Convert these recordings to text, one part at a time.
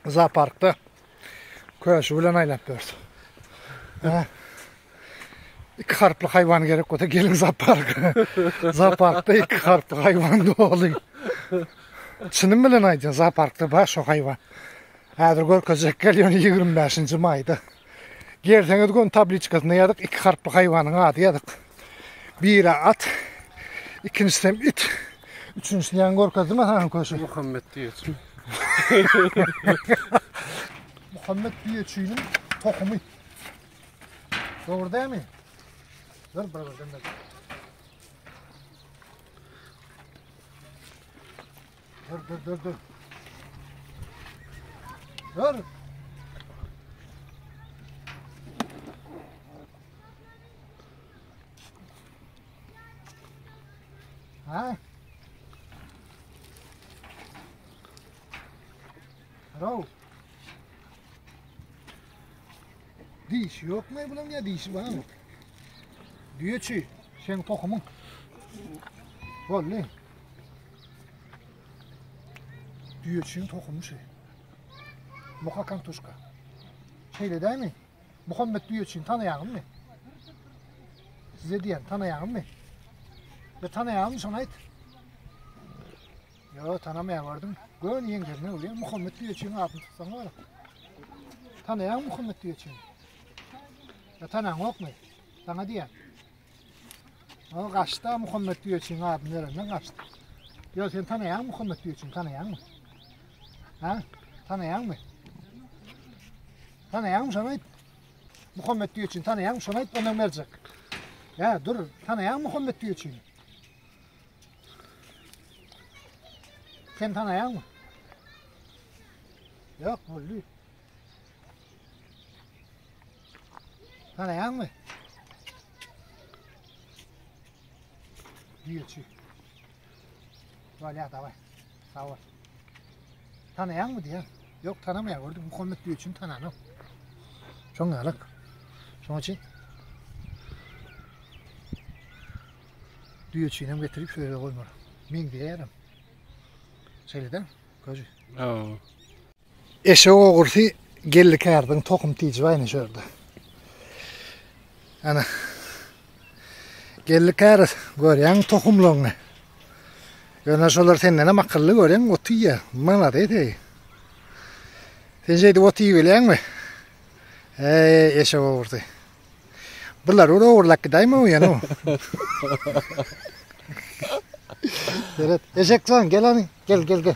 zooparkda köşi bilen aýlap bers. Ha. İki harply hayvan gerek olsa gelin zoopark. zooparkda iki harply hayvan doly. Çynym bilen aýdýan zooparkda bar şu hayvan. Häzir görkezjek gelýän 25-nji maýda. Gelseňiz gün tabliçkasynda ýazyk iki harply haýwanyň ady ýazyk. Biri at, ikinjisi hem it. Üçünjisini ýaňy görkezdim asaňy köşe. Muhammet diýeçi. Muhammet diýeçiniň tohumy. Dogry dämi? Dur bir birden. Dur dur dur dur. Dur. Ha? Hello. Diş yok mu bunun ya dişi var mı? Diyor ki sen kokumun. Vallahi. Düýeçigiň tohumy şeý. Muha kantuşka. Şeýle dämi? Muhammet Düýeçini tanaýaňmy? Size diýen tanaýaňmy? Be tanaýaňmy şony aýt. Yo tanamaýan gördüm. Gön ýeňlerine bolýar. Muhammet Düýeçini adyny tutsaň bar. Tanaýaň Muhammet Düýeçini. Ya tanaň ýokmy? Sana diýen. O gaçda Muhammed Güýeçiň adyny berenden gaçdy. Ýa sen tanaýaň Muhammed Güýeçiň tanaýaňmy? Ha? Tanaýaňmy? Tanaýaňmy şony aýt? Muhammed Güýeçiň tanaýaňmy şony aýt ondan berjek. Ya dur tanaýaň Muhammed Güýeçiň. Sen tanaýaňmy? Ýok boldy. Garaýaňmy? Diýeçi. Wala daway. Sag bol. Tanaýaňmy diýen? Ýok, tanamaýan gördüm. Muhammet diýe üçin tananok. Şoň ýalyk. Şoň üçin düýe üçin hem getirip şöyle koymalı. Min diyerim. Şeyleden, gözü. Oo. Eşek ogrusy geldi kärdiň tohum tiji baýny şörde. Ana. Geldi kär görýäň tohumlaryňy. Ýöne şolar senden hem akylly görýäň ot iýýä. Malades eý. Sen şeýdip ot iýip bilýäňmi? Eý eşek ogrusy. Bular ora orlak gidaýma o ýana. Seret, eşek sen gel gel gel gel.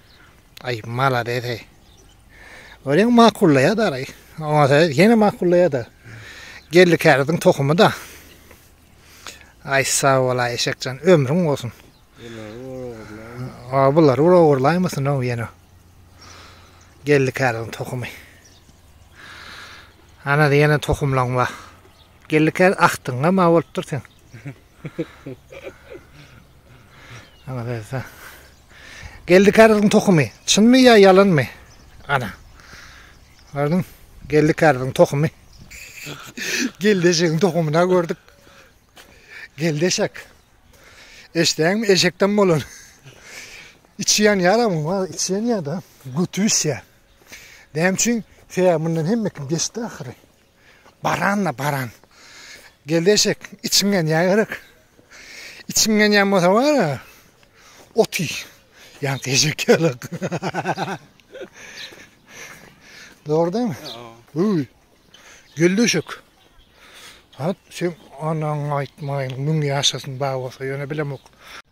Ay malades ey. Öreň makullaýar da aray. Oňa söz ýene makullaýar da. Geldi käriziň tohumy da. Ay sag bol ay eşekjan ömrüň bolsun. Aa bular ur ogurlaýmasyn o ýene. Geldi käriziň tohumy. Ana ýene tohumlaň bar. Geldi kär ahtyňa ma bolupdyr sen. Ana söz. Geldi kärziň tohumy çynmy ýa ýalanmy? Ana. Gördüň? Geldi kärziň tohumy. Geldi eşegiň tohumyna gördük. Geldi eşek. Eşdeňmi eşekden bolan. İçi yan yara mı var? İçi yan ya da götü iş ya. Dem için seya bundan hem mekim geçti ahire. Baran-da baran. Geldi eşek, içiň ýanýa gerek. Içiň ýanýan bolsa bar-a, ot iý. Ýansa eşek ýalak. Dogry dämi? Öý. Geldi eşek. Hat, sen anaňy aýtmaýyn, müň ýaşasyn, bar bolsa, ýöne bilemok.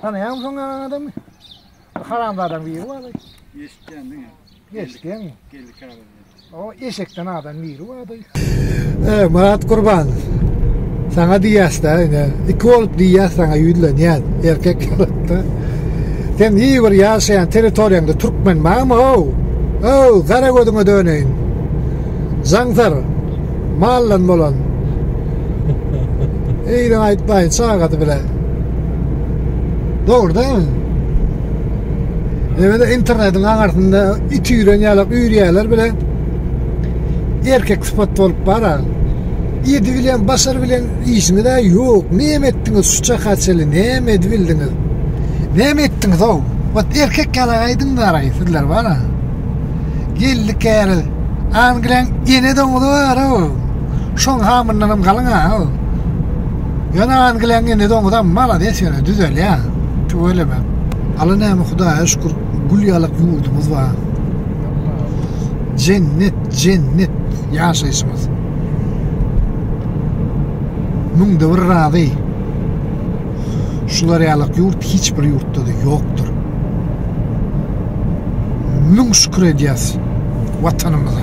Tanaýaňmy soň ýaňaňy adamy? Bir haramzadaň biri bardy. Eşitýän diňe. Eşitýäňmi? Geldi käbir. O eşekden adam biri bardy. E, Murat Gurban. Saňa diýýäs-de, ine, iki bolup diýýäs saňa ýüzlenýän, erkek ýalatda. Sen hiç bir ýaşaýan territoriýaňda türkmen barmy-how? How, gara gözüňe döneýin. Zaňsar. Maldan bolan. Eýle aýtmaýyn çagady bile. Dogry da. Ýöne internetiň aňarsynda it ýüren ýalak ýürýärler bile. Erkek sypat bolup bara. Ýedi bilen başar bilen işiňiz ýok. Näme etdiňiz şu çaka çeli? Näme edibildiňiz? Näme etdiňiz o? Ot erkek ýalak aýdyň gara sizler bara. Geldik ýaly. Angliýaň ene doňuzy bar o. Şoň hamyndan hem galyň ha. Ýöne Angliýaň ene doňuzy hem malades ýöne düzelýä. Tüweleme. Ala näme Hudaýa şükür gül ýalak ýurdumyz bar. Jennet, jennet ýaşaýşymyz. Müňde bir razy. Şular ýalak ýurt hiç bir ýurtda-da ýokdur. Müň şükür edýäs Watanymyza.